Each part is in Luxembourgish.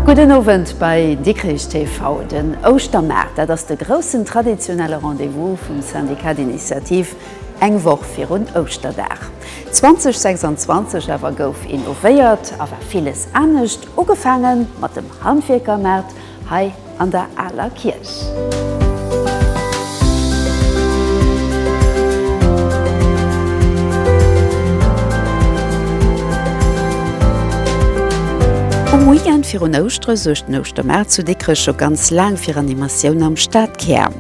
Gudden Owend bei Dikrich TV. Den Ouschtermaart, dat ass de groussen traditionelle Rendez-vous vum Syndicat d'initiative Eng Woch virun Ouschterdag 2026 awer gouf innovéiert a war villes anescht, ugefaange mat dem Handwierkermaart hei an der Aler Kierch. Um Weekend virun Ouschtere suergt den Ouschtermaart zu Dikrech scho ganz laang fir Animatioun am Stadkär.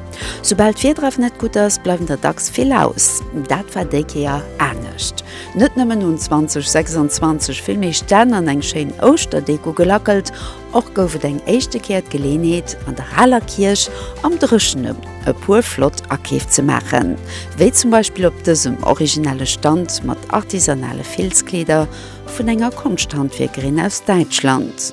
Soubal d'Firdref net gutt ass, bleiwen der dacks vill aus. Dat war déi Kéier anescht. Net nëmmen hunn 2026 vill méi Stänn an eng schéin Ouschterdeko gelackelt, och gouf et eng éischte Kéier d'Geleenheet, an der aler Kierch am Dréchene e puer flott Akeef ze maachen, wéi zum Beispill op dësem originelle Stand mat artisanale Filzkleeder vun enger Konschthandwierkerin aus Däitschland.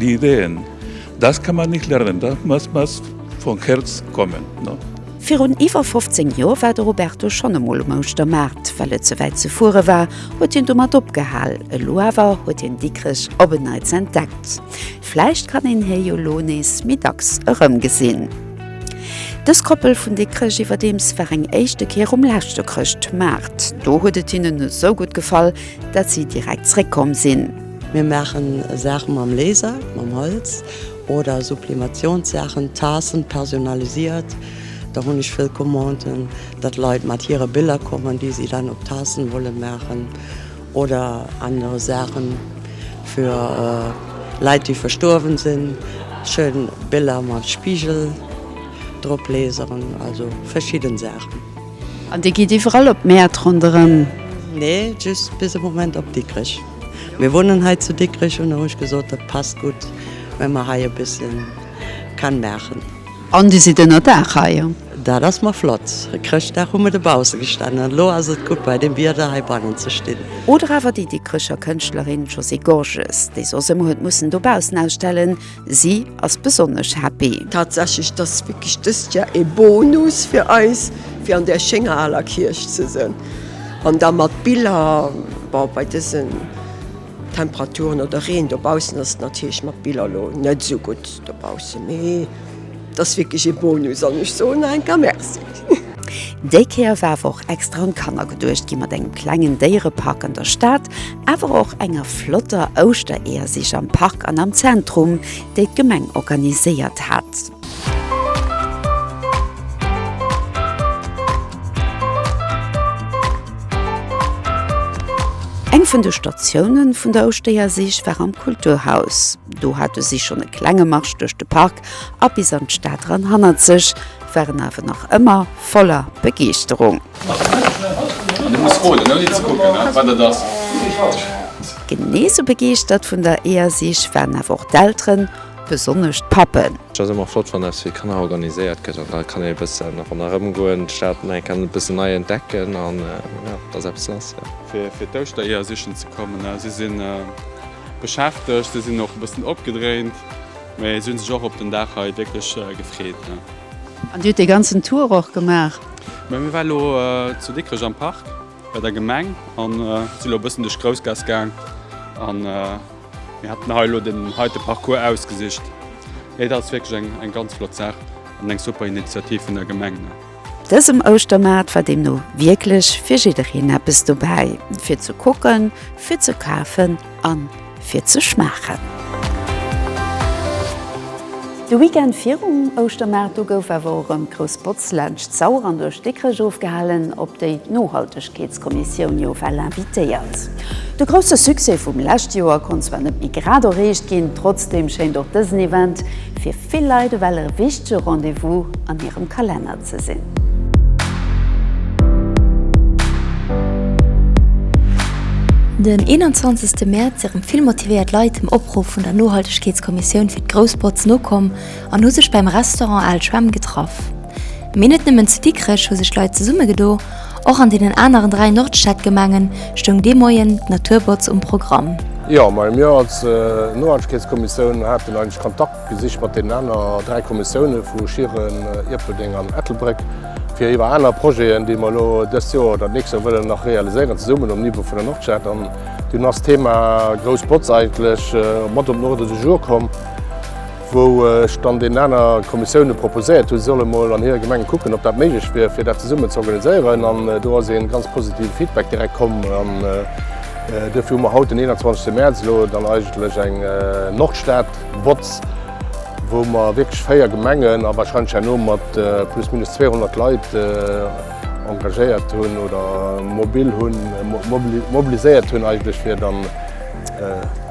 Die Ideen, das kann man nicht lernen, das muss muss vun Herz kommen. Virun iwwer 15 Joer war de Roberto schonn emol um Ouschtermaart. Well et ze wäit ze fuere war, huet hien domat opgehal. Elo awer huet hien Dikrech op en Neits entdeckt. Vläicht kann een hie jo lo nees méi dacks erëmgesinn. Dës Koppel vun Dikrech iwwerdeems war eng éischte Kéier um leschte Chrëschtmaart. Do huet et hinnen esou gutt gefall, dat si direkt zréckkomm sinn. Mir maachen Saache mam Laser, mam Holz oder Sublimatiounsaachen, Taassen personalisiert. Da hunn ech vill Commanden, datt Leit mat hire Biller kommen, déi si dann op Taassen wolle maachen oder aner Saachen fir Leit, déi verstuerwen sinn. Schön Biller mat Spigel drop laseren, also verschidden Saachen. An Dir gitt iwwerall op d'Mäert ronderëm? Nee, just bis e Moment op Dikrech. Mir wunnen hei zu Dikrech un, hu ech gesot, dat passt gutt, well mer hei e bësse Can maachen. An Dir sidd ënnerdaach hei? Dat ass mar flott. E Chrëschtdag hu mer dobausse gestanen, an elo ass et gutt bei deem Wieder hei bannen ze stinn. Oder awer déi Dikrecher Kënschtlerin Josée Gorges, déi soss ëmmer huet mussen dobaussen ausstellen, Si ass besonnesch happy. Tatsächlech, et ass wierklech dëst Jar ee Bonus fir eis, fir an där schénger aler Kierch ze sënn an da mat Biller, bon bei dësen Temperaturen oder Reen dobaussen ass et natierlech mat Biller elo net esou gutt dobaussen, mee et ass wierklech ee Bonus an ech soen enka Merci. Déi Kéier war awer och extra un d'Kanner geduecht gi mat engem klengen Déierepark an der Stad, awer och enger flotter Ouschtereeërsich am Park an am Zentrum, déi d'Gemeng organiséiert hat. Eng vun de Statiounen vun der Ouschtereeërsich war am Kulturhaus. Do hate si schonn e klenge Marsch duerch de Park a bis an d'Stad ran hannert sech. waren awer nach ëmmer voller Begeeschterung. Genee sou begeeschtert vun der EASIG waren awer och d'Elteren, besonnesch d'Pappen. Et ass ëmmer flott, wann eppes fir Kanner organiséiert gëtt an da kann ee bëssen ronderëm goen, d'Stad nach eng Kéier e bëssen nei entdecken an jo, et ass eppes lass, jo. Fir d'Ouschter Eeër sichen ze kommen. Si si beschäftegt, si sinn och e bëssen opgedréint. Mee si hunn sech och op den Dag hei wierklech gefreet. An Dir hutt dee ganzen Tour och gemaach? Mir waren elo zu Dikrech am Park bei der Gemeng a si elo e bëssen duerch d'Groussgaass gaang. A mir haten hei elo den heite Parcours ausgesicht. Et ass wierklech eng ganz flott Saach an eng super Initiativ vun der Gemeng. Dësem Ouschtermaart war deemno wierklech fir jiddereen eppes dobäi, fir ze kucken, fir ze kafen a fir ze schmaachen. De Weekend virum Ouschtermaart, do gouf awer och erëm grouss Botz laanscht d'Sauer an duerch Dikrech ofgehalen, op déi nohalteg. D'Enquêteskommissioun jo well invitéiert. De grousse Succès vum lescht Joer konnt zwar net méi grad erreecht ginn, trotzdem schéint och dësen Event fir vill Leit ewell e wichtege Rendez-vous an hirem Kalenner ze sinn. Den 21 Mäerz sinn rem vill motivéiert Leit dem Opruff vun der Nohaltegkeetskommissioun fir d'Groussbotz nokomm, an hu sech beim Restaurant Al Schwemm getraff. Mee net nëmmen zu Dikrech hu sech Leit zesummegedo, och an deenen aneren dräi Nordstadgemengen stoung dee Moien d'Naturbotz um Programm. Jo, mä mir als Nohaltegkeetskommissioun haten eigentlech Kontakt gesicht mat deenen aner dräi Kommissioune vu Schieren, Ierpeldeng an Ettelbréck, fir iwwer aner Projeten, déi mer elo dëst Joer oder d'nächst Joer wëllen nach realiséieren, zesummen um Niveau vun der Nordstad. An dunn ass d'Thema Grouss Botz eigentlech mat op den Ordre du jour komm. wou ech dann deenen aner Kommissioune proposéiert hunn, si solle mol an hire Gemengen kucken, ob dat méiglech wier, fir dat zesummen ze organiséieren. An do ass ee ganz positive Feedback direkt komm. An duerfir hu mer haut, den 21 Mäerz, elo dann eigentlech eng Nordstad-Botz, wou mer wierklech véier Gemengen a warscheinlech herno mat plus minus 200 Leit engagéiert hunn oder mobil hunn, mobiliséiert hunn eigentlech, fir dann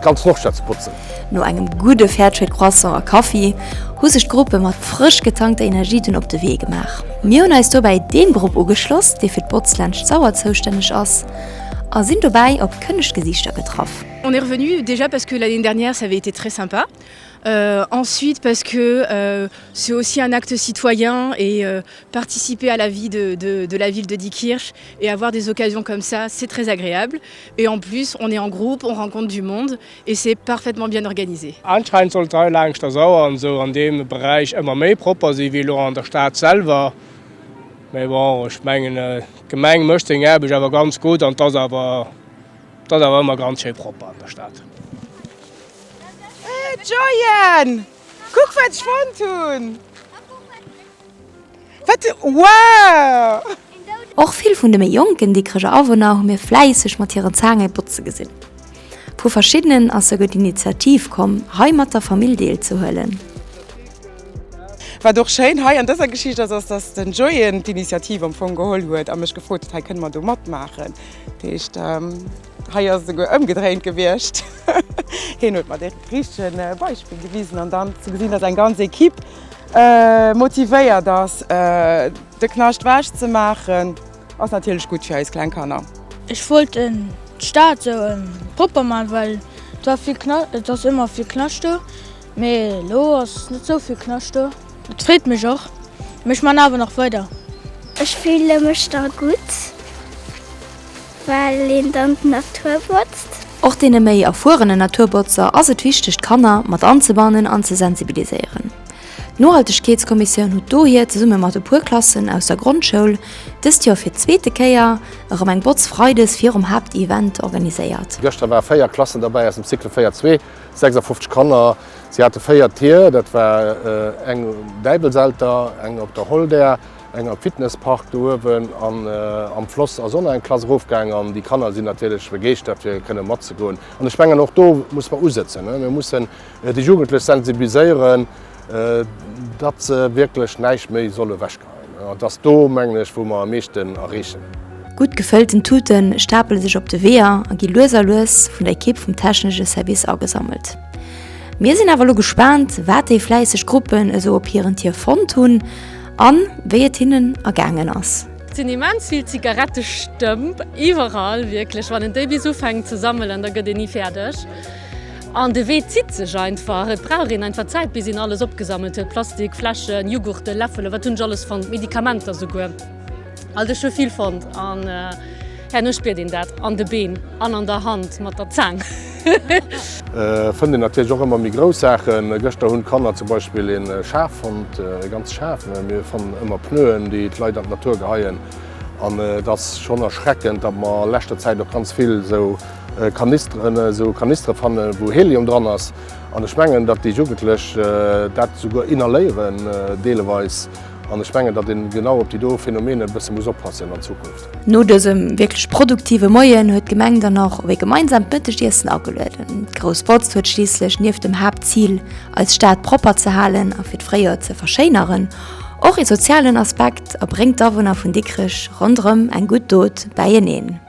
ganz Nordstad ze botzen. No engem gudde Fairtrade Croissant a Kaffi hu sech d'Gruppe mat frësch getankter Energie dunn op de Wee gemaach. Mir hunn eis dobäi deem Grupp ugeschloss, dee fir d'Botz laanscht d'Sauer zoustänneg ass a sinn dobäi op kënneg Gesiichter getraff. On est revenu déjà parce que l'année dernière ça avait été très sympa ensuite parce que c'est aussi un acte citoyen et participer à la vie de la ville de Diekirch et avoir des occasions comme ça c'est très agréable et en plus on est en groupe, on rencontre du monde. Et c'est parfaitement bien organisé. Anscheinend soll d'Rei laangscht der Sauer an esou an deem Beräich ëmmer méi propper si wéi elo an der Stad selwer. Mee bon, ech mengen d'Gemeng mécht seng Aarbecht awer ganz gutt an et ass awer, et ass awer ëmmer ganz schéi propper an der Stad. Hey Joyanne, kuck wat ech fonnt hunn! Wat e Wow! Och vill vun de méi jonken Dikreger Awunner hu mir fläisseg mat hiren Zaange botze gesinn. Vu verschiddenen ass souguer d'Initiativ komm, hei mat der Famill deelzehuelen. Wat och schéin hei an dëser Geschicht ass, ass, dass den Jojen d'Initiativ am Fong geholl huet a mech gefrot huet, Hei kënne mer do matmaachen? Dat heescht, hei ass et souguer ëmgedréint gewiescht. Hien huet mer dee richtege Beispill gewisen an dann ze gesinn, dass eng ganz Ekipp Motivéiert ass. De Knascht wech ze maachen ass natierlech gutt fir eis kleng Kanner. Ech wollt d'Stad sou propper man, well et war vill Knascht, et ass ëmmer vill Knascht do, mee elo ass net sou vill Knascht do. Et freet mech och, mee ech man awer nach weider. Ech fille mech da gutt. Well een dann d'Natur botzt. Och deene méi erfuerene Naturbotzer ass et wichteg d'Kanner mat anzebannen an ze sensibiliséieren. D'Nohaltegkeetskommissioun hutt dohier zesumme mat e puer Klassen aus der Grondschoul dëst Joer fir d'zweete Kéier erëm eng Botz Freides virum Haaptevent organiséiert. Gëschter ware 4 Klassen derbäi aus dem Cycle 4 zwee, 56 Kanner. Si hate 4 Tier, dat war eng um Däibelselter, eng op der Holdert, Engem Fitnesspark do uewen an am Floss ass och nach eng Klass erofgaang an déi Kanner sinn natierlech begeeschtert fir kënne matzegoen. An ech mengen och do muss mer usëtzen. Mir mussen déi Jugendlech sensibiliséieren, datt se wierklech näischt méi solle wechgeheien. An et ass do mengen ech wou mer am meeschten erreechen. Gutt gefëllten Tute stapele sech op de Weeër a gi lues a lues vun der Ekipp vum technesche Service agesammelt. Mir sinn awer elo gespaant wat déi fläisseg Gruppen esou op hiren Tier fonnt hunn. An wéi et hinnen ergaangen ass. Sinn immens vill Zigarettestëmp iwwerall, wierklech. Wann een déi bis ufänkt ze sammelen, da gëtt een ni fäerdeg. An de Wee zitt sech einfach. Et brauch een einfach Zäit, bis een alles opgesammelt huet, Plastik, Fläschen, Jughurten, Läffelen, wat hunn ech alles fonnt, Medikamenter souguer. Also ech hu vill fonnt an herno spiert een dat an de Been an an der Hand mat der Zaang. Fënnt een natierlech och ëmmer méi grouss Saachen. Gëschter hunn d'Kanner zum Beispill ee Schaf fonnt, e ganze Schaf. Mir fannen ëmmer Pneuen, déi d'Leit an d'Natur geheien. An et ass schonn erschreckend, datt mer a leschter Zäit och ganz vill esou Kanisteren, esou Kanistere fanne wou Helium dran ass. An ech mengen, datt déi Jugendlech dat souguer inhaléieren deeleweis. An ech mengen, datt een genau op déi do Phänomene e bësse muss oppassen an Zukunft. No dësem wierklech produktive Moien huet d'Gemeng dann och op ee gemeinsamt Mëttegiessen agelueden. D'Grouss Botz huet schliisslech nieft dem Haaptzil, eis Stad propper ze halen a fir d'Fréijoer ze verschéineren, och ee sozialen Aspekt a bréngt d'Awunner vun Dikrech ronderëm eng gutt Dot bäieneen.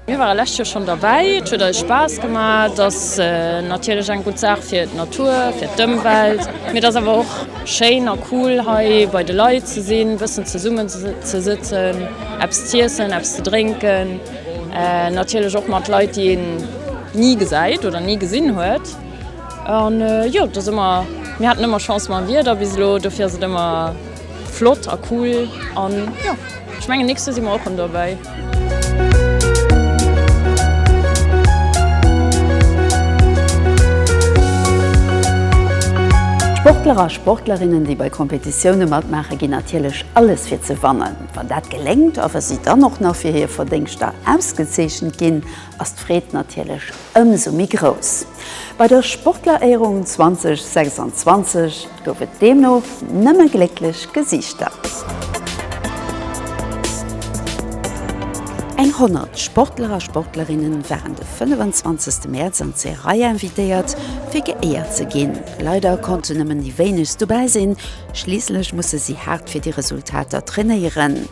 Mir ware lescht Joer schonn derbäi. Et huet eis Spaass gemaach. Et ass natierlech eng gutt Saach fir d'Natur, fir d'Ëmwelt. Mee et ass awer och schéin a cool, hei bei de Leit ze sinn, e bëssen zesummen ze sëtzen, eppes z'iessen, eppes ze drénken. Natierlech och mat Leit, déi een ni gesäit oder ni gesinn huet. An jo, et ass ëmmer, mir haten ëmmer Chance mam Wieder bis elo, dofir ass et ëmmer. Flott a cool an jo ech mengen nächste si mer och rem dobäi. Sportler a Sportlerinnen déi bei Kompetitioune matmaache ginn natierlech alles fir ze wannen. Wann dat geléngt a wa si dann och nach fir hir Verdéngschter ausgezeechent ginn, ass d'Freed natierlech ëmsou méi grouss. Bei der Sportleréierung 2026 gouf et deemno nëmme glécklech Gesiichter. Eng 100 Sportler a Sportlerinne waren de 25 Mäerz an d'Seraya invitéiert fir geéiert ze ginn. Leider konnten nëmmen déi wéinegst dobäi sinn, schliisslech musse si haart fir déi Resultater trainéieren.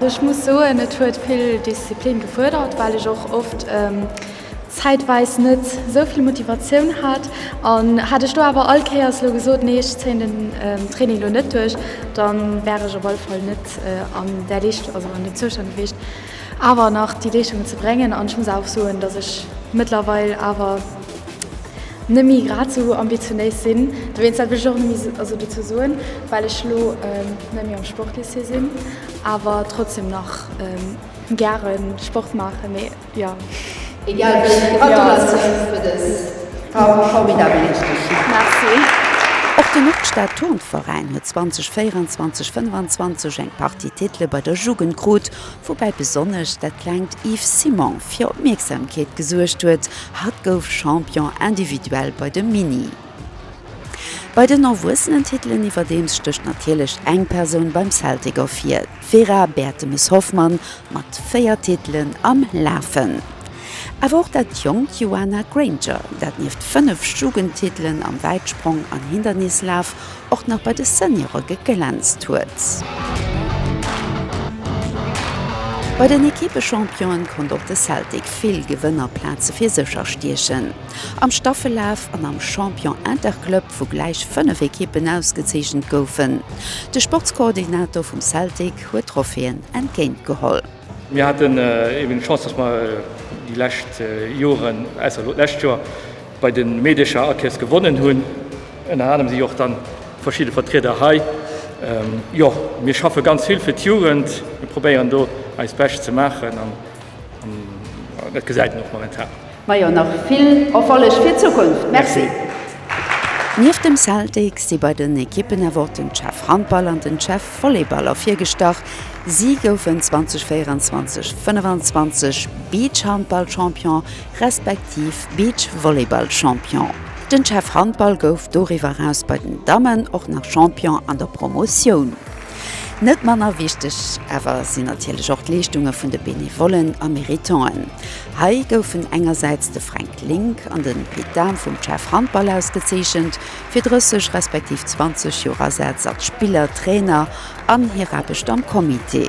Ech muss soen, et huet vill Disziplin gefuerdert, well ech och oft zäitweis net sou vill Motivatioun hat. An hätt ech do awer all Kéiers elo gesot, nee ech zéien den Training elo net duerch, dann wär ech op alle Fall net an där Leescht, also an dem Zoustand gewiescht awer nach déi Leeschungen ze bréngen. An ech muss awer och soen, dass ech mëttlerweil awer. net méi grad esou ambitionéis sinn, dowéinst dat wëll ech och net méi esou dozou soen, well ech elo net méi am Sportlycée sinn, awer trotzdem nach gäre Sport maachen, mee jo. Egal wéi, Gratulatiounen fir dës formidabel Leeschtung! Merci. Och de Nordstad Turnveräin huet 2024, 25 eng Partie Titele bei der Jugend krut, Woubäi besonnesch dat klengt Yves Simon fir Opmierksamkeet gesuergt huet, hatt gouf Champion individuel bei de Mini. Bei den Erwuessenentitelen iwwerdeems stécht natierlech eng Persoun beim Celtic ervir, d'Vera Bertemes-Hoffmann mat 4 Titelen am Lafen. Awer och dat jonkt Joana Granger, dat nieft 5 Jugendtitelen am Wäitsprong an Hindernislaf och nach bei de Seniore geglänzt huet. Bei den Ekippe-Championen konnt och de Celtic vill Gewënnerplaze fir sech erstiechen. Am Staffellaf an am Champion Interclub, wou gläich 5 Ekippen ausgezeechent goufen. De Sportskoordinator vum Celtic huet d'Tropheeën entgéint geholl. Mir haten eben d'Chance, dass mer déi lescht Joren, ausser elo d'lescht Joer, Bei de Meedercher Akees gewonnen hunn. Ënner anerem si och dann verschidde Vertrieder hei. Jo, mir schaffe ganz vill fir d'Jugend. Mir probéieren do eis Bescht ze maachen an dat gesäit een och momentan. Majo, nach vill Erfolleg fir d'Zukunft. Merci. Nieft dem Celtic si bei den Ekippen awer och den Chef Handball an den Chef Volleyball ervirgestach. Si goufen 2024 25 Beachhandball-Champion. respektiv Beachvolleyball-Champion. Den Chef Handball gouf doriwwer eraus bei den Dammen och nach Champion an der Promotioun. Net manner wichteg awer sinn natierlech och d'Leeschtunge vun de Benevollen a Méritanten. Hei goufen engersäits de Fränk Link an den Pit Dahm vum Chef Handball ausgezeechent fir 30 respektiv 20 Joer Asaz als Spiller, Trainer an hir Aarbecht am Comité.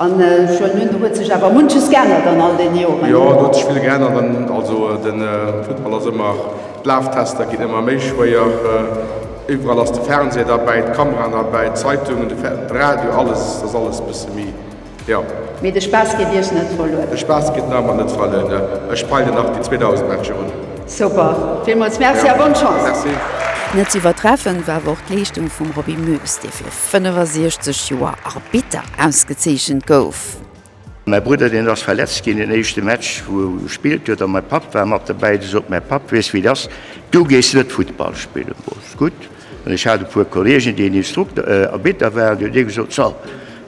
An schon nun huet sech awer munches geännert an all den Joren. Jo, do huet sech vill geännert an also den Futtball ass ëmmer, d'Laftester ginn ëmmer méi schwéier, iwwerall ass de Fernseher derbäi, d'Kameraen derbäi, d'Zeitungen, de Radio, alles, et ass alles e bësse méi, jo. Mee de Spaass geet Iech net verluer? De Spaass geet mer nach net verluer, ne, ech peile nach déi 2000 Matcher un. Super, villmools Merci a bonne Chance! Merci. Net ze iwwertreffen war awer och d'Leeschtung vum Roby Moes, dee fir. 65 Joer Arbitter ausgezeechent gouf. Mäi Brudder, deen ass verletzt ginn den éischte Match wou e gespillt huet, a mäi Papp war mat dobäi. Du sot mäi Papp, Weess wéi et ass, du gees net Futtball spillen. Boss, Gutt. An ech hat e puer Kolleegen, déi en Instrukt, Arbitter waren. Du huet ee gesot, So,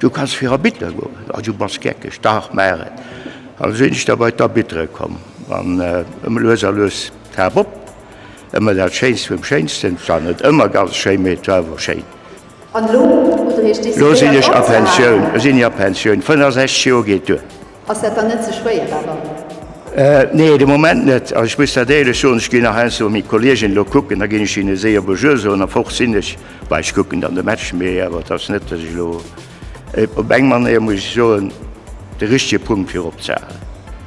du kanns fir Arbitter goen. A du bass geckeg, dach maach et. An esou sinn ech da bei d'Arbittere komm. An ëmmer lues a lues d'Hab op, ëmmer dat Schéinst vum Schéinsten, zwar net ëmmer ganz schéi, mee et war awer schéin. Elo sinn ech a Pensioun, elo sinn ech a Pensioun, 65 Joer geet duer. Nee, de Moment net. Ech muss dat éierlech soen, ech ginn nach heiansdo mat menge Kolleegen elo kucken, da ginn ech hinne séier Bonjour soen a fort sinn ech. Bah, ech kucken dann de Match, mee awer et ass net, datt ech elo Op eng Manéier muss ech soen, de richtege Punkt fir opzehalen.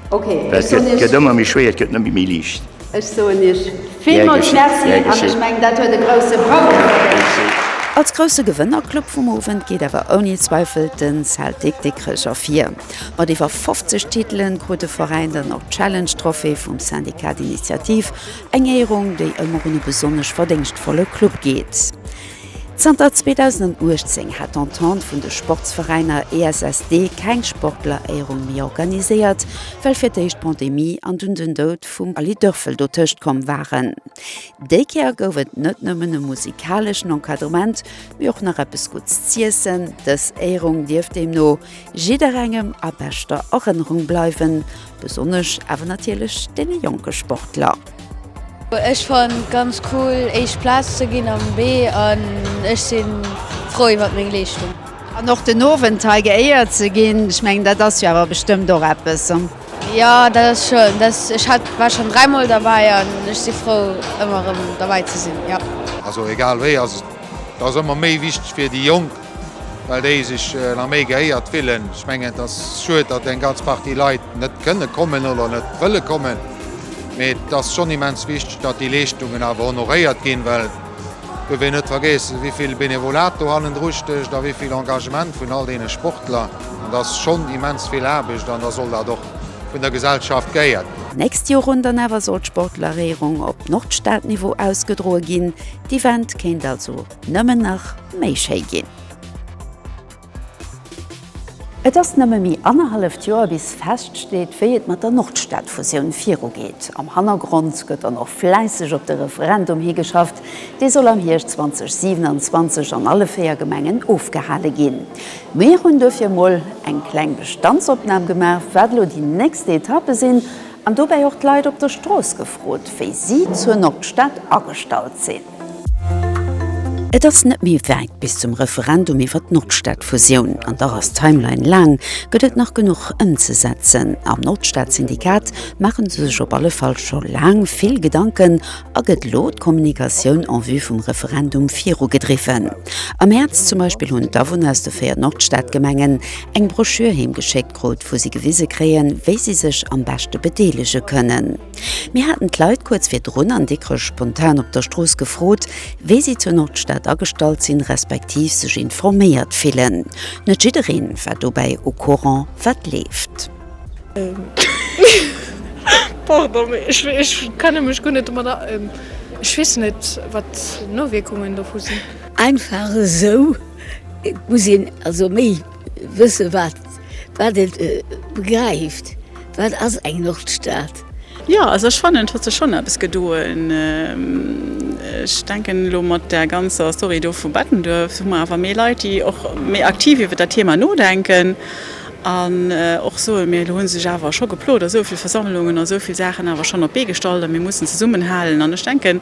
Well et gëtt ëmmer méi schwéier, et gëtt net méi méi liicht. Ech soen Iech villmools Merci an ech mengen, dat huet e grousse Bravo verdéngt. Als grousse Gewënnerclub vum Owend geet awer ouni Zweifel de Celtic Dikrech ervir. Mat iwwer 50 Titelen krut de Veräin dann och d'Challenge Trophée vum Syndicat d'Initiative, eng Éierung, déi ëmmer un e besonnesch verdéngschtvolle Club geet. Zanter 2018 hat d'Entente vun de Sportsveräiner ESSD keng Sportleréierung méi organiséiert, well fir d'éischt d'Pandemie an dunn den Doud vum Aly Dörfel dotëscht komm waren. Déi Kéier gouf et net nëmmen e musikaleschen Encadrement, mee och nach eppes Gutts z'iessen. Dës Éierung dierft deemno jidderengem a beschter Erënnerung bleiwen. Besonnesch awer natierlech deene jonke Sportler. Ech fannen et ganz cool éischt Plaz ze ginn am B an ech si frou iwwert meng Leeschtung. An och den Owend hei geéiert ze ginn, ech mengen dat ass jo awer bestëmmt och eppes. Jo dat ass schön, dass ech hat war schonn dräi mol derbäi an ech si frou ëmmer erëm derbäi ze sinn. Also egal wéi ass et ass ëmmer méi wichteg fir déi Jonk well déi sech nach méi gehéiert fillen. Ech mengen, et ass schued, datt eng ganz Partie Leit net kënne kommen oder net wëlle kommen, mee et ass schonn immens wichteg, datt déi Leeschtungen awer honoréiert ginn, well do wéi net vergeessen, wéi vill Benevolat do hannendru stécht a wéi vill Engagement vun all deene Sportler. An dat ass schonn immens vill Aarbecht an da soll dat och vun der Gesellschaft geéiert ginn. D'nächst Joer un dann awer soll d'Sportleréierung op Nordstadniveau ausgedroe ginn. D'Event kéint also Nëmmen nach méi schéi ginn. Et ass nëmme méi annerhalleft Joer bis feststeet, wéi et mat der Nordstadfusioun virugeet. Am Hannergrond gëtt dann och fläisseg op de Referendum higeschafft. Dee soll am Hierscht 2027 an alle véier Gemengen ofgehale ginn. Mir hunn duerfir emol eng kleng Bestandsopnam gemaach, wat elo déi nächst Etappe sinn, an dobäi och d'Leit op der Strooss gefrot, wéi si zur Nordstad agestallt sinn. Et ass net méi wäit bis zum Referendum iwwer d'Nordstadfusioun. An dach ass d'Timeline laang, gëtt et nach genuch ëmzesetzen? Am Nordstadsyndikat maache se sech op alle Fall scho laang vill Gedanken a gëtt elo d'Kommunikatioun en vue vum Referendum virugedriwwen. Am Mäerz zum Beispill hunn d'Awunner aus de véier Nordstadgemengen eng Broschür heemgeschéckt krut, wou si gewise kréien, wéi si sech am beschte bedeelege kënnen. Mir haten d'Leit kuerz virdrun an Dikrech spontan op der Strooss gefrot, wéi si zur Nordstad agestallt sinn, respektiv sech informéiert fillen. Net jiddereen war dobäi au courant, wat leeft. Pardon, mee ech kenne mech guer net domat aus. Ech weess net, wat d'Nowierkungen dovu sinn. Einfach esou muss een also méi. Wësse wat wat et begräift, wat ass eng Nordstad? Jo, also ech fannen et huet sech schonn eppes gedoen. Ech denken elo mat där ganzer Story do vu Bettenduerf hu mer awer méi Leit déi och méi aktiv iwwer dat Thema nodenken an och soen, mir hunn sech awer scho geplot a souvill Versammlungen a souvill Saachen awer schonn op d'Bee gestallt a mir mussen zesummenhalen an ech denken,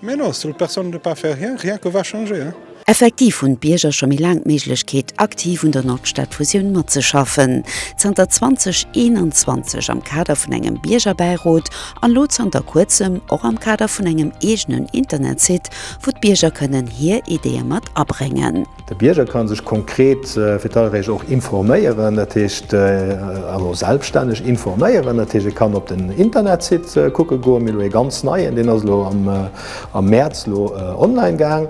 Mais non, s'il personne ne pas faire rien, rien que va changer, hein! Effektiv hunn d'Bierger scho méi laang d'Méiglechkeet, aktiv un der Nordstadfusioun matzeschaffen. Zanter 2021 am Kader vun engem Biergerbäirot an elo zanter kuerzem och am Kader vun engem eegenen Internetsite, wou d'Bierger kënnen hir Ideeë mat abréngen. De Bierger kann sech konkret fir d'Allréicht och informéieren, dat heescht also selbstänneg informéieren. Dat heescht, e kann op den Internetsite kucke goen. Mir elo ee ganz neien, deen ass elo am Mäerz elo online gaang.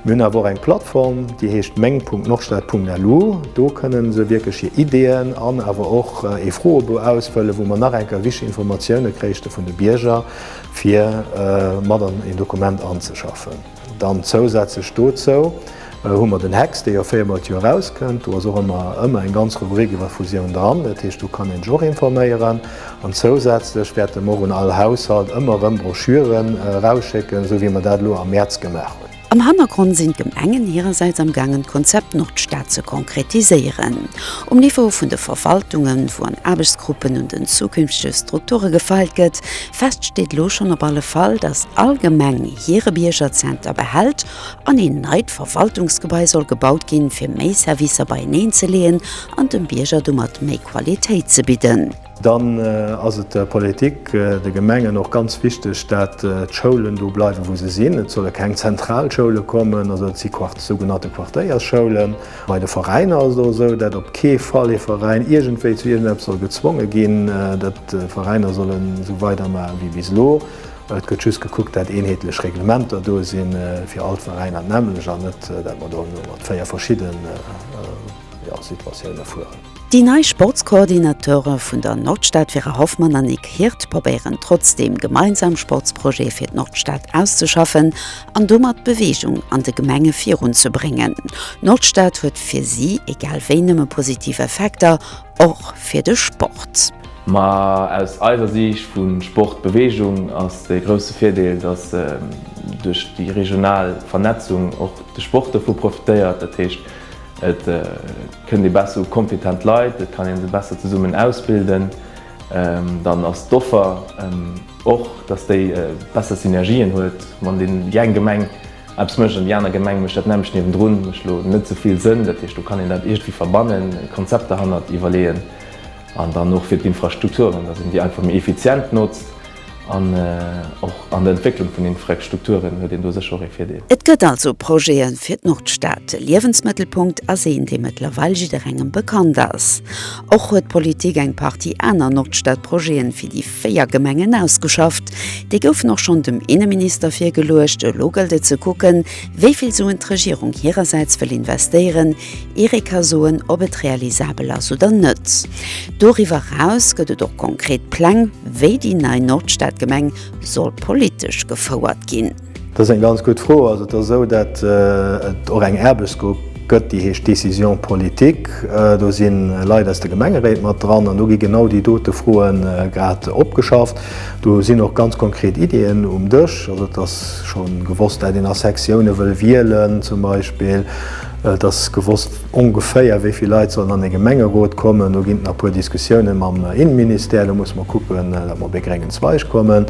Mir hunn awer och eng Plattform, déi heescht meng.nordstad.lu. Do kënne se wierklech hir Ideeën an awer och ee Froebou ausfëllen, wou mer nach eng Kéier wichteg Informatioune kréichte vun de Bierger, fir mat an een Dokument anzeschaffen. Dann zousätzlech dozou hu mer den Hex, dee jo véiermol d'Joer erauskënnt. Do ass och ëmmer ëmmer eng ganz Rubrik iwwer Fusiounen dran. Dat heescht, do kann een sech och informéieren. An zousätzlech wäerte mer och un all Haushalt ëmmer erëm Broschüren erausschécken, esou wéi mer dat elo am Mäerz gemaach hunn. Am Hannergrond sinn d'Gemengen hirersäits am gaangen d'Konzept Nordstad ze konkretiséieren. Um Niveau vun de Verwaltungen, wou an Aarbechtsgruppen un den zukünftege Strukture gefeilt gëtt, fest steet elo schonn op alle Fall, datt all Gemeng, hire Biergerzenter behält an een neit Verwaltungsgebai soll gebaut ginn, fir méi Servicer beieneen ze leeën an dem Bierger domat méi Qualitéit ze bidden. Dann ass et der Politik, de Gemengen och ganz wichteg, dat d'Schoulen do bleiwen, wou se sinn. Et solle keng zentral Schoule kommen, also et si sougenannte Quartéiersschoulen. Bei de Veräiner ass et och esou, dat op kee Fall ee Veräin iergendwéi zu iergendeppes soll gezwonge ginn, dat d'Veräiner sollen esou weidermaach ewéi bis elo. Et gëtt just gekuckt, dat eenheetlech Reglementer do sinn fir all d'Veräiner d'nämlech an net, dat mer do elo mat véier verschidde Situatioune fueren. Déi nei Sportskoordinateure vun der Nordstad Vera Hoffmann an Nic Hirt probéieren trotzdeem gemeinsam Sportsprojete fir d'Nordstad auszeschaffen an domat Beweegung an de Gemenge virunzebréngen. D'Nordstad huet fir si egal wéi nëmme positiv Effekter och fir de Sport. Ma aus eiser Siicht vu Sport, Beweegung ass de grousse Virdeel, datt duerch déi regional Vernetzung och de Sport dovu profitéiert. Dat heescht, et kënnt ee besser u kompetent Leit, et kann ee se besser zesummen ausbilden. Dann ass d'Offer och, datt déi besser Synergien huet, wann déi eng Gemeng, Eppes mécht an déi aner Gemeng mécht dat nämmlecht niewendrun, mécht elo net esou vill Sënn. Dat heescht, do kann een dat iergendwéi verbannen, e Konzept derhannert iwwerleeën. An dann och fir d'Infrastrukturen, datt een déi einfach méi effizient notzt. An och an der Entwécklung vun Infrastrukturen huet een do sécher och ee Virdeel. Et gëtt also Projete fir d'Nordstad. De Liewensmëttelpunkt ass een, dee mëttlerweil jidderengem bekannt ass. Och huet d'Politik eng Partie aner Nordstadprojete fir déi. Véier Gemengen ausgeschafft. Déi goufen och schonn dem Inneminister virgeluecht. Elo gëllt et ze kucken, wéi vill Suen d'Regierung hirersäits wëll investéieren, ier ee ka soen, ob et realisabel ass oder net. Doriwwer eraus gëtt et och konkret Pläng, wéi déi nei Nordstadgemeng soll politesch gefouert ginn. Dat ass eng ganz gutt Fro. Also et ass esou, datt et och eng Aarbechtsgrupp gëtt, déi heescht Décision politique. Do si Leit aus de Gemengeréit mat dran an do gi genau déi dote Froe grad opgeschafft. Do sinn och ganz konkret Iddien um Dësch. Also et ass scho gewosst, dat een a Sektione wëll wielen zum Beispill. Et ass gewosst ongeféier wéi vill Leit sollen an e Gemengerot kommen. Do ginn et nach e puer Diskussiounen mam Innenministère. Do musse mer kucken, datt mer op ee gréngen Zweig kommen.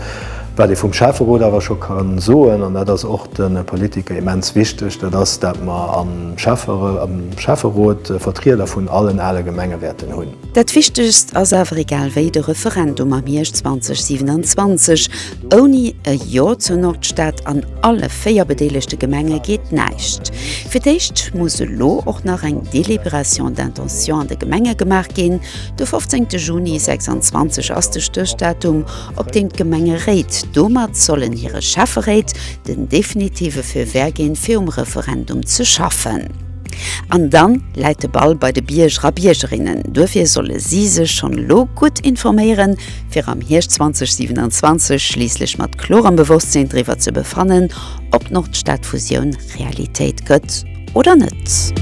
Wat ee vum Schäfferot awer scho ka soen, an dat ass och de Politiker immens wichteg, dat ass, dat mer am Schäfferot Vertrieder vun allen ale Gemenge wäerten hunn. Dat Wichtegst ass awer egal wéi de Referendum am Hierscht 2027. Ouni e Jo zur Nordstad an alle véier bedeelegte Gemenge geet näischt. Fir d'éischt muss elo och nach eng Délibération d'intention an de Gemenge gemaach ginn. De 15 Juni 26 ass de Stéchdatum. op deem d'Gemengeréit domat sollen hire Schäfferéit den definitive Feu vert ginn, fir um Referendum ze schaffen. An dann läit de Ball bei de Bierger a Biergerinnen. Duerfir solle si sech schonn elo gutt informéieren, fir am Hierscht 2027 schliisslech mat klorem Bewosstsinn driwwer ze befannen, ob d'Nordstadfusioun Realitéit gëtt oder net.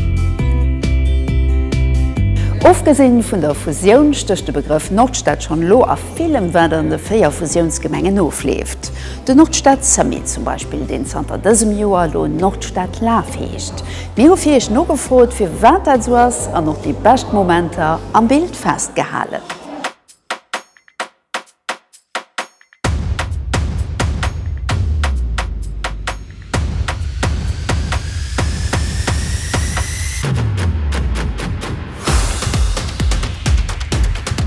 Ofgesinn vun der Fusioun stécht de Begrëff Nordstad schonn elo a. Villem wat an de 4 Fusiounsgemengen ofleeft. De Nordstad Summit zum Beispill, deen zanter dësem Joer elo Nordstad Laf heescht. Mir hu fir iech nogefrot fir wat dat esou ass an och déi bescht Momenter am Bild festgehalen.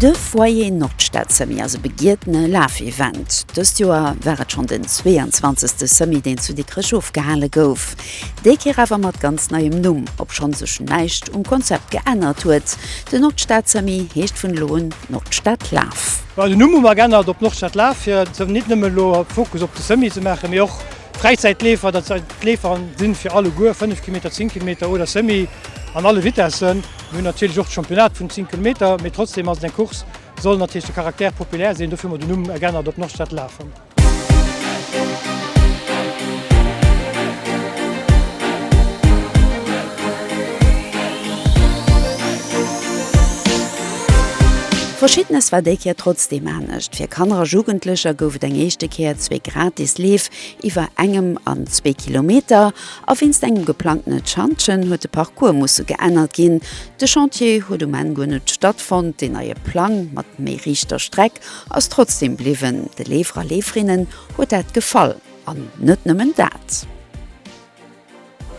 De Foyer Nordstad Semi ass e begietene Lafevent. Dëst Joer war et schonn den 22. Semi, deen zu Dikrech ofgehale gouf. Déi Kéier awer mat ganz neiem Numm, obschonn sech näischt um Konzept geännert huet. Den Nordstad Semi heescht vun elo un Nordstad Laf. Den Numm hu mer geännert op Nordstad Laf, fir net nëmme elo Fokus op de Semi ze maachen, mee och Fräizäitleefer, dat si Leefer sinn fir alleguer, 5 Kilometer, 10 Kilometer oder Semi an alle Vitessen. Mir hunn natierlech och d'Championnate vun 10 Kilometer, mee trotzdeem ass et eng Course, soll natierlech de Caractère populaire sinn, dofir hu mer den Numm geännert op Nordstad Lafen. Verschiddenes war déi Kéier trotzdeem anescht, Fir Kanner a Jugendlecher gouf et eng éischte Kéier zwee. Gratis Leef iwwer engem an zwee Kilometer a wéinst engem geplangtene Chantgen huet de Parcours musse geännert ginn. De Chantier huet um Enn guer net stattfonnt. Deen neie Plang mat méi riichter Streck ass trotzdeem bliwwen. De Leefer a Leeferinnen huet dat gefall. An net nëmmen dat.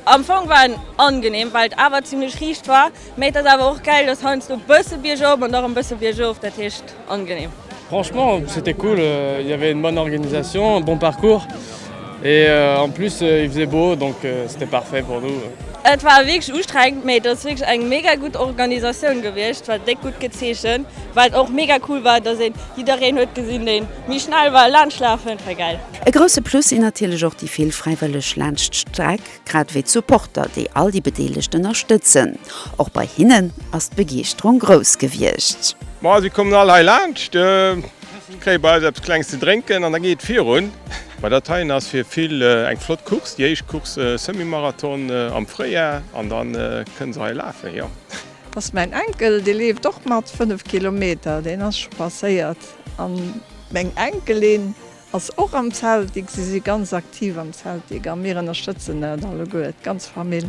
Am Fong war en angenehm Wald, awer zimlech riicht war, mä et ass awer och gäil, dass heiansdo bësse biergop an dach en bësse biergof, dat heescht angenehm. Franchement c'était cool, il y avait une bonne organisation, un bon parcours et en plus il faisait beau donc c'était parfait pour nous. Et war wierklech ustrengend, mä et ass wierklech eng mega gutt Organisatioun gewiescht, war déck gutt gezeechent, wat och mega cool war, dass een jiddereen huet gesinn, deen méi schnell war, laanscht lafen, et war gäil. E grousse Plus sinn natierlech och déi vill Fräiwëlleg laanscht d'Streck, grad ewéi d'Supporter, déi all déi Bedeelegten ënnerstëtzen. Och bei hinnen ass d'Begeeschterung grouss gewiescht. Ma si kommen all hei laanscht, kréie bei eis eppes Klenges ze drénken an da geet et virun. Ma dat heien ass fir vill eng flott Course, déi éischt Course Semi-Marathon am Fréijar an da kënne se hei lafen, jo. Dat ass mäin Enkel, dee leeft och mat, 5 Kilometer, deen ass scho passéiert. A meng Enkelin. Ass och am Celtic, si si ganz aktiv am Celtic a mir ënnerstëtzen dat alleguer, d'ganz Famill.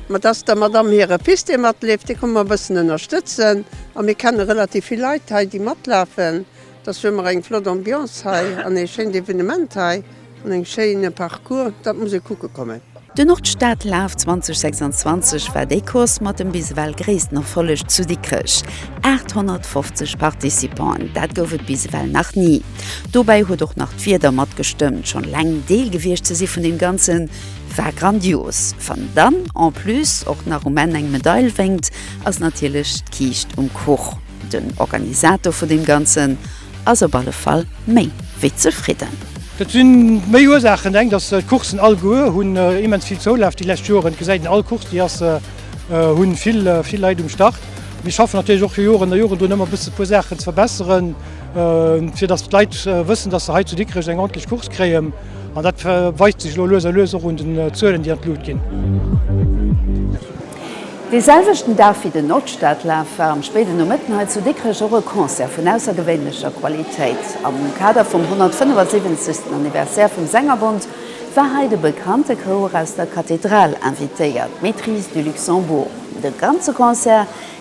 Ma dat ass der Madamm hire Fils, dee matleeft, dee komme mer e bëssen ënnerstëtzen. A mir kenne relativ vill Leit hei, déi matlafen. Dofir hu mer eng flott Ambiance hei an ee schéint Evenement hei an eng schéine Parcours. Dat muss ee kucke kommen. De Nordstadlaaf 2026 war déi Course mat dem bis ewell gréissten Erfolleg zu Dikrech, 850 Participanten, dat gouf et bis ewell nach ni. Dobäi huet och nach d'Wieder matgestëmmt, schonn eleng Deel gewiescht ze si vun deem Ganze war grandios. Wann dann en plus och nach um Enn eng Medail wénkt, ass natierlech d'Kiischt um Kuch. Den Organisator vun deem Ganzen, ass op alle Fall méi wéi zefridden. Dat si méi Ursaachen. Eng, datt d'Coursen all goe hunn immens vill Zoulaf déi lescht Joren. Et gesäit een, all Course déi ass, hunn vill vill Leit um Start. Mir schaffen natierlech och jo Joren a Joren drun ëmmer e bësse puer Saachen ze verbesseren, fir datt d'Leit wëssen, datt se hei zu Dikrech eng ordentlech Course kréien. An dat weist sech elo lues a lues och un den Zuelen, déi an d'Lut ginn. Dee selwechten Dag wéi den Nordstadlaf war am spéiden Nomëtten hei zu Dikrech och e Concert vun aussergewéinlecher Qualitéit. Am Kader vum 175. Anniversaire vum Sängerbond war hei de bekannte Chouer aus der Kathedral invitéiert, d'Maîtrise du Luxembourg. De ganze Concert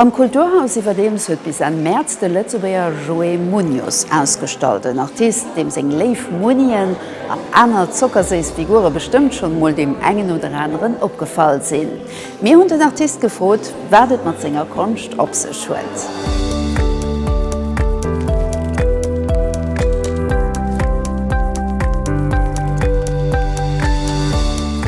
Am Kulturhaus iwwerdeems huet bis Enn Mäerz de Lëtzebuerger Joé Muñoz ausgestallt. En Artist, deem seng léif Munien an aner zockerséiss Figure bestëmmt schonn emol deem engen oder aneren opgefall sinn. Mir hunn den Artist gefrot, wat et mat senger Konscht op sech huet.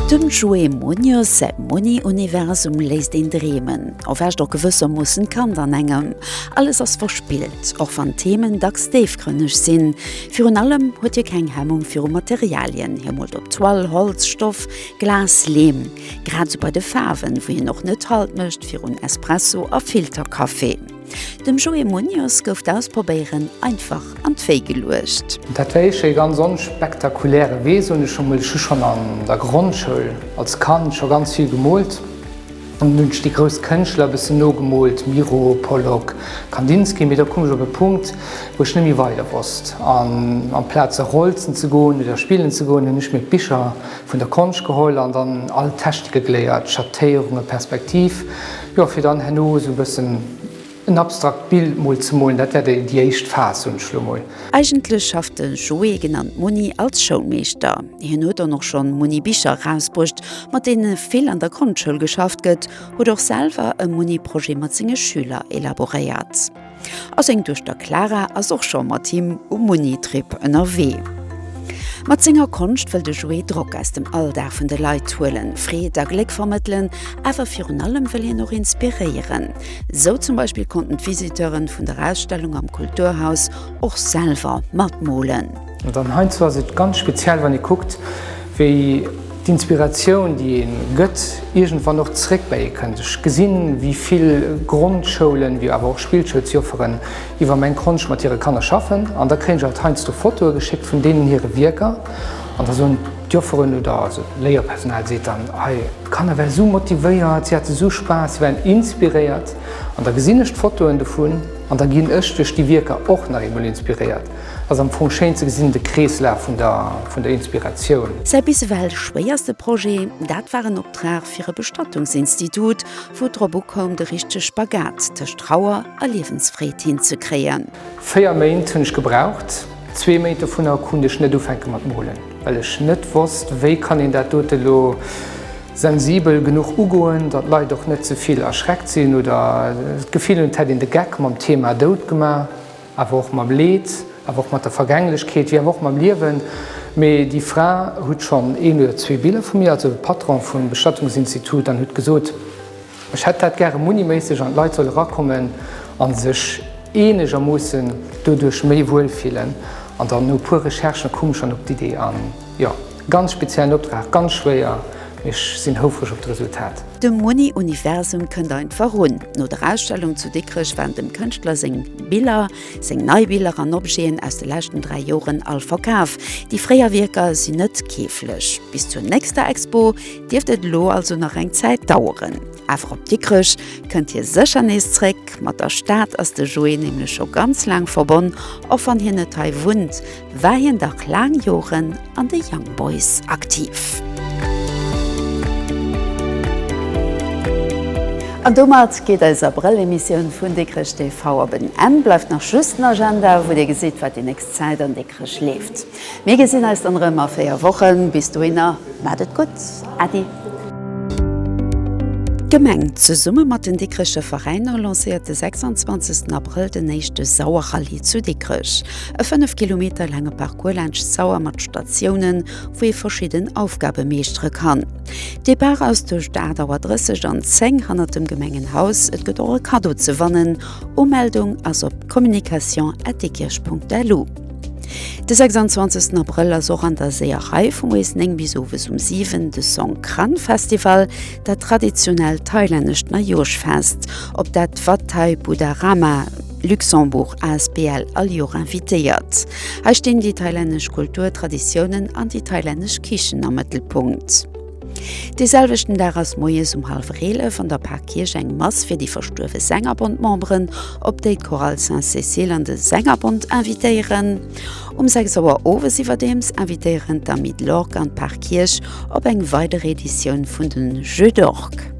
Dem Joé Muñoz säi Muni-Universum léisst een dreemen. erwächt och gewëssermoossen d'Kand an engem. Alles ass verspillt, och wann d'Themen dacks déifgrënneg sinn. Virun allem huet hie keng Hemmung viru Materialien, hie moolt op Toile, Holz, Stoff, Glas, Leem. Grad esou bei de Faarwen, wou hien och net Halt mécht virun Espresso a Filterkaffi. Dem Joé Muñoz gouf d'Ausprobéieren einfach an d'Wéi geluecht. Dat war éischter ee ganz onspektakuläre Wee, soen ech emol. Ech hu schonn an der Grondschoul, als Kand, scho ganz vill gemoolt. An hunn ech déi grouss Kënschtler e bëssen nogemoolt, Miro, Pollock, Kandinsky, mee da koum ech op e Punkt, wou ech net méi weider wosst. An amplaz a Rolzen ze goen oder spillen ze goen, hunn ech mir d'Bicher vun der Konscht geholl an dann all Technike geléiert, Schattéierungen, Perspektiv, jo, fir dann herno esou e bëssen, En abstrakt Bild mol ze molen, dat wär déi éischt Phas, soen ech lo mol. Eigentlech schafft de Joé, genannt Muni, als Schoulmeeschter. Hien huet dann och schonn Muni Bicher erausbruecht, mat deene vill an der Grondschoul geschafft gëtt, huet och selwer e Muni Projet mat senge Schüler elaboréiert a seng Duechter Clara ass och scho mat him um Muni Trip ënnerwee. Mat senger Konscht wëll de Joé Drock aus dem Alldag vun de Leit huelen, Freed a Gléck vermëttelen, awer virun allem wëll hien och inspiréieren. Sou zum Beispill konnten d'Visiteuren vun der Ausstellung am Kulturhaus och selwer mat molen. An dann heiansdo ass et ganz speziell, wann ee kuckt, wéi d'Inspiratioun, déi ee gëtt, iergendwann och zeréck bäi ee kënnt. Ech gesinn, wéi vill Grondschoulen, wéi awer och Spillschoulsjofferen iwwer Meng Konscht mat hire Kanner schaffen. An da kréien ech alt heiansdo Fotoe geschéckt vun deenen hire Wierker. An da soen d'Jofferen oder also d'Léierpersonal seet dann, Hei, D'Kanner ware sou motivéiert, si hate sou Spaass, si waren inspiréiert an da gesinn ech d'Fotoen dovun an da ginn ech duerch déi Wierker och nach eemol inspiréiert. Ass am Fong schéin ze gesinn, de Kreeslaf vun der Inspiratioun. Säi bis ewell schwéierste Projet, dat war en Optrag fir e Bestattungsinstitut, wou et drop ukoum, de richtege Spagat tëscht Trauer a Liewensfreed hinzekréien. Véier Méint hunn ech gebraucht, zwee Méint dovunner kunt ech net ufänke mat molen. Well ech net wosst, wéi kann een dat dote elo sensibel genuch ugoen, datt d'Leit och net ze vill erschreckt sinn oder d'Gefill hunn, et hätt een de Geck mam Thema Doud gemaach, awer och mam Leed, awer och mat der Vergänglechkeet, wéi awer och mam Liewen. Mee déi Fra hutt schonn een oder zwee Biller vu mir, also de Patron vum Bestattungsinstitut, an hutt gesot, Ech hätt dat gäre muniméisseg an d'Leit soll erakommen a sech eenegermoossen doduerch méi wuel fillen. An dann no e puer Recherchen koum ech dann op d'Idee an jo, ganz speziellen Optrag, ganz schwéier, mee ech sinn houfreg op d'Resultat. De Muni-Universum kënnt einfach un. No der Ausstellung zu Dikrech waren dem Kënschtler seng Biller, seng nei Biller an Objeten aus de leschten 3 Joren all verkaf. Déi fréier Wierker sinn net keeflech. Bis zur nächster Expo. dierft et elo also nach eng Zäit daueren. Awer op Dikrech kënnt hie sécher nees zréck. Mat der Stad ass de Joé nämlech scho ganz laang verbonn, och wann hien net hei wunnt, war hien dach laang Joren an de Young Boys aktiv. An domat geet eis Abrëll-Emissioun vun Dikrech TV op en Enn. Bleift nach just den Agenda, wou Dir gesitt, wat déi nächst Zäit an Dikrech leeft. Mir gesinn eis dann erëm a 4 Wochen. Bis dohinner, maacht et gutt. Äddi. D'Gemeng, zesumme mat den Dikricher Veräiner, lancéiert de 26 Abrëll den éischte Sauer-Rallye zu Dikrech. E 5 Kilometer laange Parcours laanscht d'Sauer mat Statiounen, wou ee verschidden Aufgabe meeschtere kann. Depart ass duerch d'Aart Auer 30 an 10 hannert dem Gemengenhaus. Et gëtt och e Kaddo ze wannen. Umeldung ass op communication@dikrech.lu. De 26 Abrëll ass och an der Seeërei vu moies 9 bis owes um 7 de Songkran Festival, dat traditionellt thailännescht Neijoerschfest, op dat Wat Thai Budharama Luxembourg asbl all Joer invitéiert. Hei stinn déi thailännesch Kultur, Traditiounen an déi thailännesch Kichen am Mëttelpunkt. Dee selwechten Dag ass moies um hallwer 11 an der Parkierch eng Mass fir déi verstuerwe Sängerbond-Memberen, op déi d'Chorale Sainte-Cécile an de Sängerbond invitéieren. Um 6 Auer owes iwwerdeems invitéieren d'Amis de l'Orgue an d'Parkierch op eng weider Editioun vun de Jeux d'Orgue.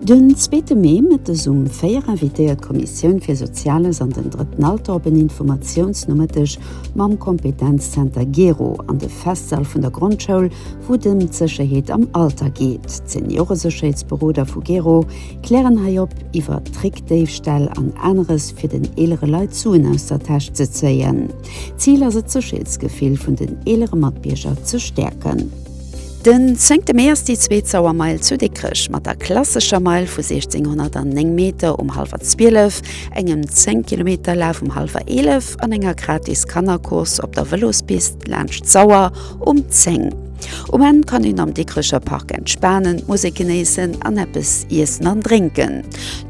Den zweete Mee mëttes um 4 invitéiert d'Kommissioun fir Soziales an den Drëtten Alter op en Informatiounsnomëtteg, mam Kompetenzzenter Gero an de Festsall vun der Grondschoul, wou et ëm d'Sécherheet am Alter geet. D'Senioresécherheetsberoder vu Gero klären hei op iwwer Trickdéifställ an aneres fir den eelere Leit Suen aus der Täsch ze zéien. Zil ass et d'Sécherheetsgefill vun den eelere Matbierger ze stäerken. Den zéngte Mee ass déi zweet Sauermeil zu Dikrech mat der klassescher Meil vu 1609 Meter um hallwer Zwielef, engem 10 Kilometer Laf um hallwer Eelef an enger gratis Kannercourse op der Vëlospist laanscht d'Sauer um 10. Um Enn kann een am Dikrecher Park entspanen, d'Musek genéissen an eppes iessen an drénken.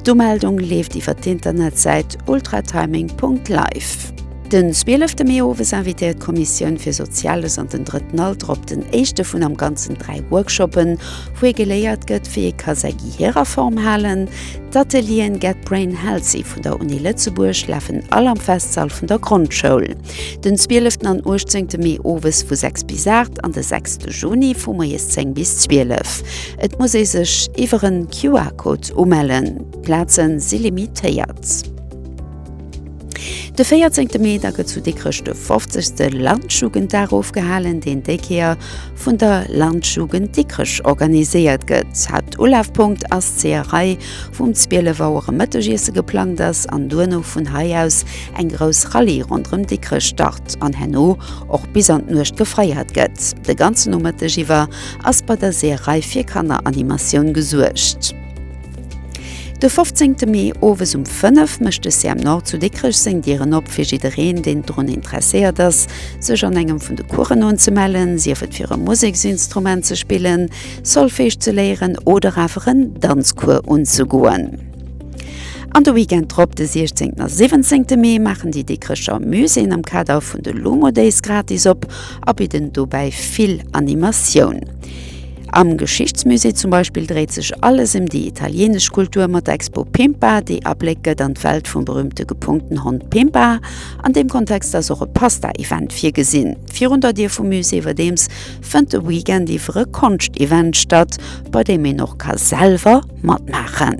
D'Umeldung leeft iwwer d'Internetsäit ultratiming.live. Den 12 Mee owes invitéiert d'Kommissioun fir Soziales an den Drëtten Alter op den éischte vun am Ganzen dräi Workshoppen, wou ee geléiert gëtt, wéi ee ka säi Gehier a Form halen. D'Atelieren Get Brain Healthy vun der Uni Lëtzebuerg lafen all am Festsall vun der Grondschoul. Den 12 an 18 Mee owes vu 6 bis 8 an de 6 Juni vu moies 10 bis 12. Et muss ee sech iwwer en QR-Code umellen. D'Plaze si limitéiert. De 14 Mee da gëtt zu Dikrech de 50. Landjugenddag ofgehalen, deen déi Kéier vun der Landjugend Dikrech organiséiert gëtt. Haaptulafpunkt ass d'Zeeërei, wou um 12 Auer e Mëttegiesse geplangt ass an duerno vun hei aus eng grouss Rallye ronderëm Dikrech start an herno och bis an d'Nuecht gefeiert gëtt. De ganzen Nomëtteg iwwer ass bei der Seeërei fir Kanneranimatioun gesuergt. De 15. Mee owes um 5 mécht de CM-Nord zu Dikrech seng Dieren op fir jiddereen, deen drun interesséiert ass, sech an engem vun de Coursen unzemellen, sief et fir e Museksinstrument ze spillen, Solfège ze léieren oder awer en Danzcours unzegoen. An de Weekend drop, de 16. a 17. Mee, maachen déi Dikrecher Muséeën am Kader vun de Lumo Days gratis op a bidden dobäi vill Animatioun. Am Geschichtsmusée zum Beispill dréit sech alles em déi italienesch Kultur mat der Expo Pimpa, déi Abléck gëtt an d'Welt vum berüümte gepunkten Hond Pimpa. An deem Kontext ass och e Pasta-Event virgesinn. Virun der Dier vum Musée iwwerdeems fënnt de Weekend iwwer e Konscht-Event statt, bei deem een och ka selwer matmaachen.